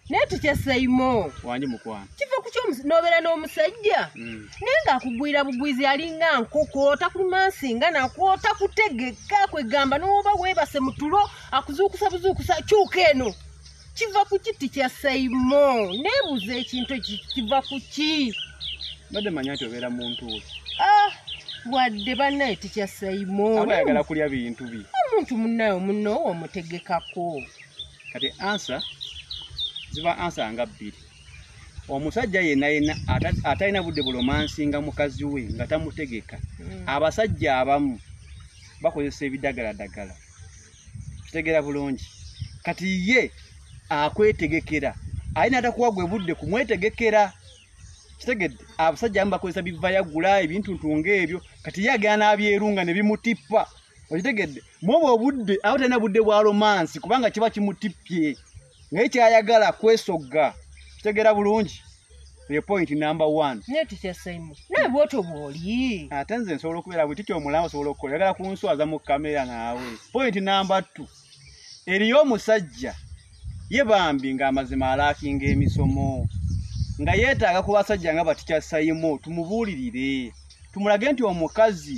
naye tukyeseyimo wangi mukwano kiva ku kyonobera n'omusajja mm. naye ngaakugwira bugwizi alinga nkoko takumansi nga nakwo takutegeka kwegamba nowoba webase mutulo akuzuukusa buzuukusa kyuka eno kiva ku kiti kya sayimo nebuuza ekintu kiva ku ki badde manya nti obeera muntu we ah, wadde banaye tikya sayimo aba ayagala kulya bintu bye omuntu munaye omunowo omutegekako kati ansa ziba ansa nga bbiri omusajja yenna yenna atalina budde bulomansinga mukazi we nga tamutegeka mm. abasajja abamu bakozesa ebidagaladagala kitegera bulungi kati ye akwetegekera aye natakuwa gwe budde kumwetegekera kitegedde abasajja amu bakozesa bivayagula ebintuntu ngaebyo kati ye agenda nabyerunga nebimutippa okitegedde mwoba obudde aba talina budde bwa romansi kubanga kiba kimutippye naye kyayagala kwesogga kitegeera bulungi eyo point number one naye tutya simon naye bwoto bwoli ate nze nsobola okubeera bwe tutya omulamu osobola okukola yagala kunswaza mu kamera naawe point number two eriyo omusajja ye bambi ng'amazima alaakinga emisomo nga yeetaaga ku basajja nga batikya sayimo tumubuulirire tumulage nti omukazi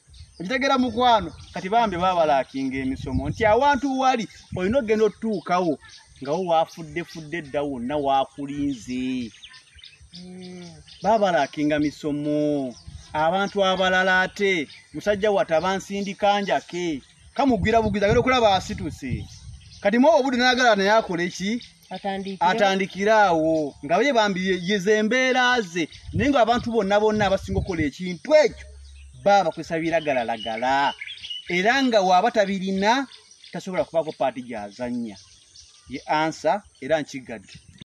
okitegera mukwano kati bambi babalakinga emisomo nti awantu wali olina okugenda otutuukawo nga wo wafudde fudde dda wonna wakulinze hmm. babalakinga misomo abantu abalala ate musajja wata bansindika njake kamugwira bugwiza agenda okulaba asituse kati mwoba obudde nayagala naye akole ki atandikire awo nga ye bambi yeze embeera ze naye nga abantu bonna bonna abasinga okukola ekintu ekyo baba bakozesa biragalalagala era nga waaba tabirina tasobola kubaako paati gyazannya ye ansa era nkigadde